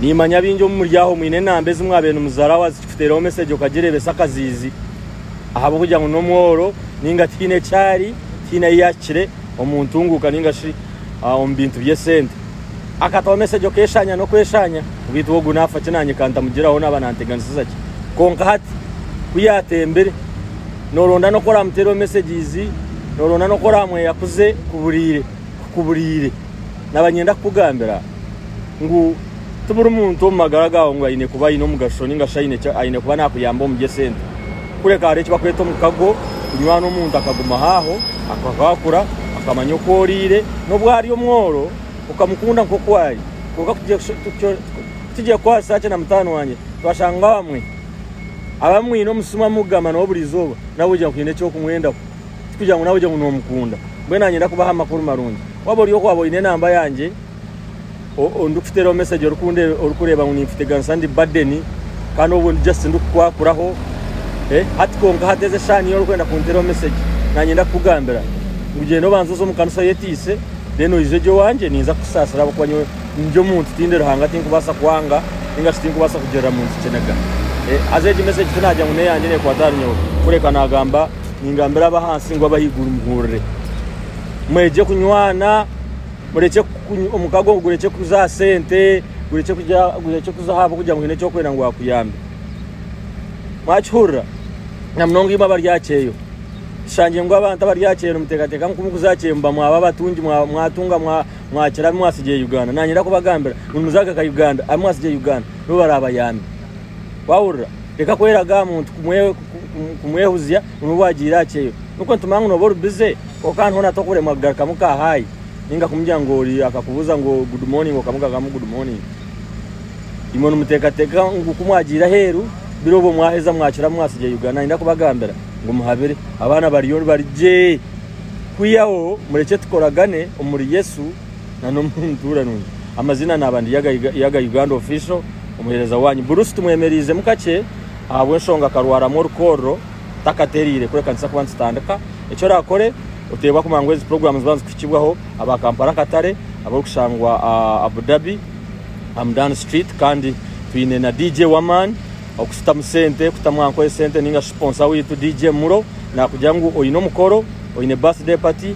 Nimanya baingi omu muri aho mwine enamba ezi mwabaire nimuzaraho haza tikikuteeraho mesegi okagireebesa akaziizi ahabw'okugira ngu n'omworo ninga tihaine eki ari, tihaine ahu yaahikire omu ntunguuka ninga shi ah, omu bintu by'esente. Akataho mesegi okeeshaanya n'okweshaanya beitu we ogu naafa ki naanye ka ntamugiraho naaba naanteganisiza ki? Kwonka hati ku yaatembire nooronda n'oku oraamuteereho mesegizi, nooronda n'oku oraamweyakuze kuburiire. kukubureire naba nyenda kukugambira ngu tiburi muntu omu magara gawe ngu ayine kuba ayine omugasho ninga shi ayine kuba nakuyamba omu by'esente. Kureka hariho ekibakweta omukago, kunywana omuntu akaguma haaho, akakwakura, akamanya oku oriire, n'obu ari omworo okamukunda nk'oku ari. Kwonka tikigye kukwasa gye na mutaano wangye. Twashanga abamwe abamwine omu simu amukugamba nawe buri izooba, nawe ogira ngu haine eki orikumwendaho. Tikugira ngu naawe ogire ngu noomukunda. Mbwenu nanyenda kubaha amakuru marungi. Waaba ori oku, waaba oine enamba yangye, ndikukuteeraho mesegi orikureeba ngu nimpiteganisa ndi badeni kandi obwo ndi just ndikukwakuraho. Hati kwonka hati ezi eshaha niiwe orikwenda kunteeraho mesegi. Nanyenda kukugambira ngu gyenda obanze oze omu kanisa oyeteise then oije ogye owangye ninza kukusaasira ahabw'okuba nyowe ndi omuntu tindi Ruhanga tinkubaasa kwanga nainga shi tinkubaasa kugirira muntu kiniga. Haza egi mesegi tinaagira ngu n'eyangye neekwata ahari nyowe kureka naagamba. Ningambira ab'ahansi ngu ab'ahaiguru muhurire. Mwegye kunywana, murekye omukago gurekye kuza aha sente, gurekye kuza aha bw'okugira ngu haine eki orikwenda ngu baakuyambe. Mwakihurira? Na munonga imwe abari aha kyeyo. Tushangire ngu abantu abari aha kyeyo nimuteekateeka ngu kuza aha kyeyo muba mwaba abatungi, mwatunga, mwakira abu mwatsigire Uganda. Naanye ndakubagambira ngu nimuza kugaruka Uganda, abu mwatsigire Uganda nibo baraabayambe. Waahurira? Reka kweraga aha muntu kumwehuzya ngu nibwo bwagiire aha kyeyo. Nikwo nitumanya ngu nooba ori bize kwonka kandi hoona tokuremwa kugarukamu ka haayi ninga kumugira ngu ori akakubuuza ngu good morning okamugagamu good morning. Imwe nimuteekateeka ngu ku mwagiire aheeru biro obwo mwaheza mwakiramu mwatsigye Uganda. Nayenda kubagambira ngu muhabire. Abaana bariyo bari gye. Kwihaho murekye tukoragane omuri Yesu. na n'omu ntuura nungi. Amazina naaba ndi Yaga Yaga Uganda Official, omuheereza waanyu. Bruce tumwemereizemu kakye ahabw'enshonga akarwaramu orukoorro takatereire kureka nituza kuba nitutandika. Eki oraakore oteebwa kumanya ngu ezi puroguraamu niziba nizikuhikibwaho aba Kampala akatare abarikushangwa Abu Dhabi Hamdan Street kandi twine na DJ w'amaani okutamu sente kutamu aha nkoye sente ninga shi siponsa waitu DJ Mulo naakugira ngu oine omukoro oine birthday party